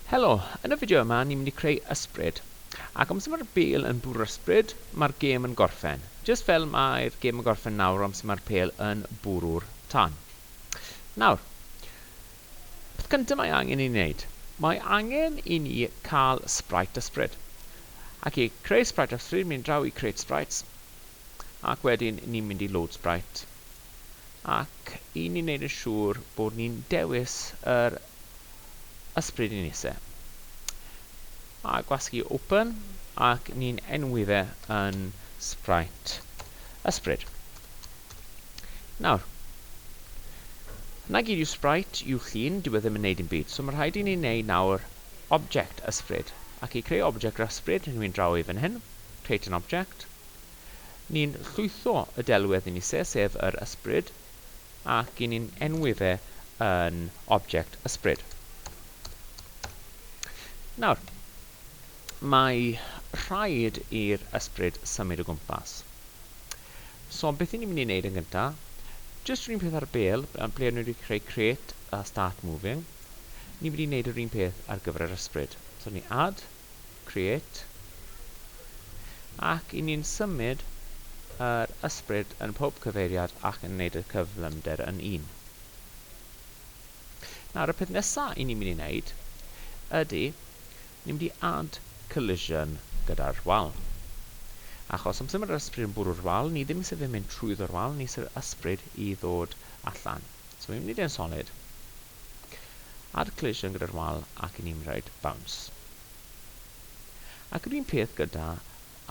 Helo, yn y fideo yma ni'n mynd i creu ysbryd. Ac amser mae'r bêl yn bwrw'r ysbryd, mae'r gêm yn gorffen. Jyst fel mae'r gêm yn gorffen nawr amser mae'r pêl yn bwrw'r tân. Nawr, peth cyntaf mae angen i ni wneud, mae angen i ni cael sprite ysbryd. Ac i creu sprite ysbryd, mynd draw i create sprites, ac wedyn ni'n mynd i load sprite. Ac i ni'n wneud yn siŵr bod ni'n dewis yr Ysbryd i Nise. A gwasgu open, ac ni'n enwi fe yn Sprite Ysbryd. Nawr, na gyd yw Sprite yw llun, dyw e ddim yn neud yn byd, so mae rhaid i ni wneud nawr object ysbryd. Ac i creu object ysbryd, rydw i'n draw i fan hyn, create an object. Ni'n llwytho y delwedd i Nise, sef yr ysbryd, ac i ni'n enwi fe yn object ysbryd. Nawr, mae rhaid i'r ysbryd symud o gwmpas. So, beth i ni'n mynd i wneud yn gyntaf? Just rhywun peth ar y bel, ble o'n i wedi creu create a start moving. Ni'n mynd i wneud yr un peth ar gyfer yr ysbryd. So, ni add, Create, ac i ni'n symud yr ysbryd yn pob cyfeiriad ac yn neud y cyflymder yn un. Nawr y peth nesa i ni'n mynd i neud ydy ni'n mynd i add collision gyda'r wal. Achos amser mae'r ysbryd yn bwrw'r wal, ni ddim sydd yn mynd trwyddo'r wal, ni sydd yr ysbryd i ddod allan. So fi'n mynd i dyn solid. Add cleision gyda'r wal ac i ni'n rhaid bounce. Ac yr un peth gyda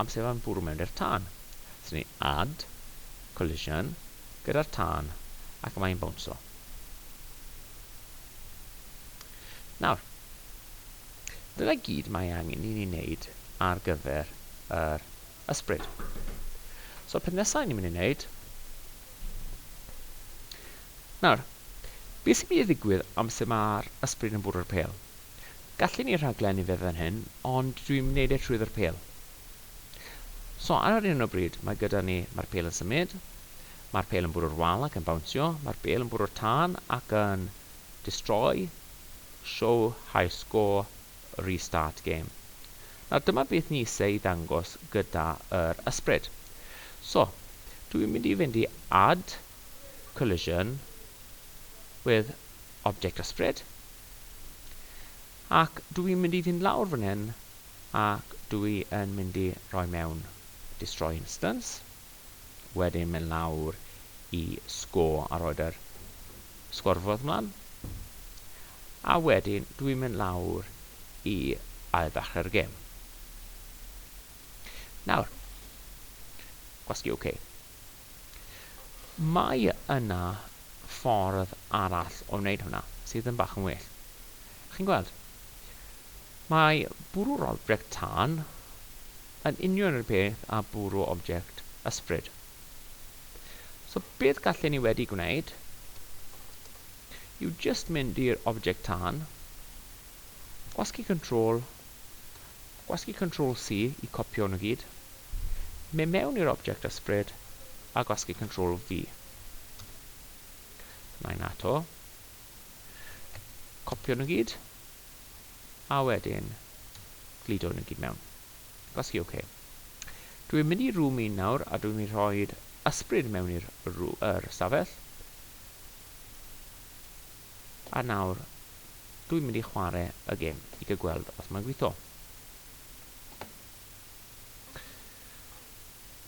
amsefa'n bwrw mewn i'r tân. Swn i add collision gyda'r tân ac mae'n bownso. Nawr, dyna gyd mae angen i ni wneud ar gyfer yr ysbryd. So peth nesaf ni'n mynd i wneud Nawr, be sy'n mynd i ddigwydd amser mae'r ysbryd yn bwrw'r pêl? Gallen ni rhaglennu fe fan hyn, ond dwi'n mynd i wneud e trwy ddwr pêl. So, ar hyn o bryd, mae gyda ni, mae'r pêl yn symud, mae'r pêl yn bwrw'r wal ac yn bawnsio, mae'r bêl yn bwrw'r tân ac yn destroy, show high score, restart game. Nawr, dyma beth ni eisiau i ddangos gyda'r ysbryd. So, dwi'n mynd i fynd i add, collision with object ysbryd. Ac dwi i'n mynd i fynd lawr fan hyn ac dwi yn mynd i roi mewn destroy instance. Wedyn mynd lawr i score a roed yr sgorfod ymlaen. A wedyn dwi'n mynd lawr i ail ddechrau'r gêm. Nawr, gwasgu OK. Mae yna ffordd arall o wneud hwnna sydd yn bach yn well. Chi'n gweld? Mae bwrw'r object tân yn union yr peth a bwrw object ysbryd. So beth gallen ni wedi gwneud yw just mynd i'r object tân, gwasgu control Gwasgu Control C i copio nhw gyd. Mynd mewn i'r object ysbryd a gwasgu Control V. Dyma un ato. Copio nhw gyd. A wedyn gludo nhw gyd mewn. Gwasgu OK. Dwi'n mynd i room 1 nawr a dwi'n mynd i rhoi ysbryd mewn i'r yr stafell. A nawr Dwi'n mynd i chware y gem i gael gweld os mae'n gweithio.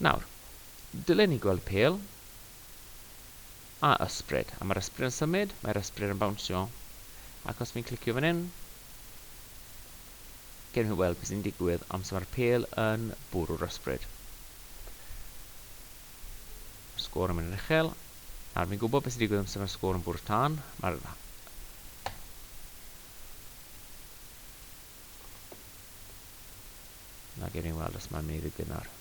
Nawr, dylen ni gweld pel a ysbryd. A mae'r ysbryd yn symud, mae'r ysbryd yn bawnsio. Ac os fi'n clicio fan hyn, gen i weld beth sy'n digwydd amser mae'r pel yn bwrw'r ysbryd. Sgôr yn mynd yn uchel. Nawr, fi'n gwybod beth sy'n digwydd amser mae'r sgôr yn bwrw'r tân. Mae'r Na, gewn ni weld os mae'n mynd i ddigwydd nawr.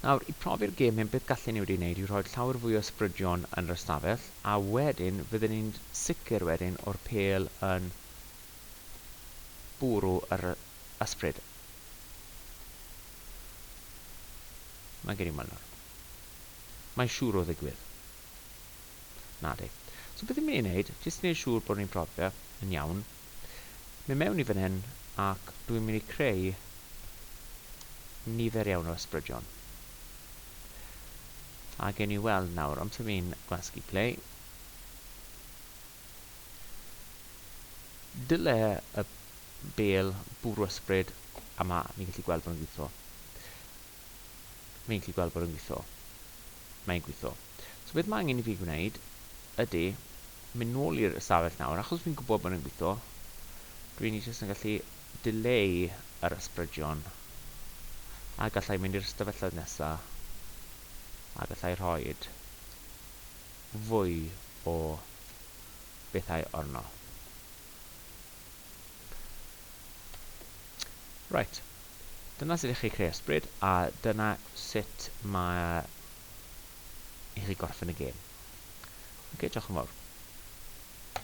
Nawr, i profi'r gêm hyn, beth gallen ni wedi wneud yw rhoi llawer fwy o sbrydion yn yr ystafell, a wedyn fydden ni'n sicr wedyn o'r pel yn bwrw yr ysbryd. Mae gen i weld nawr. Mae'n siŵr o ddigwydd. Nadi. So beth i mi ei wneud, jyst i wneud siŵr bod ni'n profio yn iawn, mynd mewn i fan hyn ac dwi'n mynd i creu nifer iawn o ysbrydion. A gen i weld nawr, amser fi'n gwasgu play. Dyle y bel bwrw ysbryd a mae ni'n gallu gweld bod yn gwitho. Fi'n gallu gweld bod e'n gwitho. Mae'n gwitho. So beth mae angen i fi gwneud ydy mynd nôl i'r ystafell nawr, achos fi'n gwybod bod e'n gwitho. Dwi'n i jyst yn gallu dileu yr ysbrydion. A gallai mynd i'r ystafelloedd nesa. A gallai rhoi fwy o bethau orno. Right. Dyna sut i chi creu ysbryd, a dyna sut mae i chi gorffen y gêm. Ok, diolch yn fawr.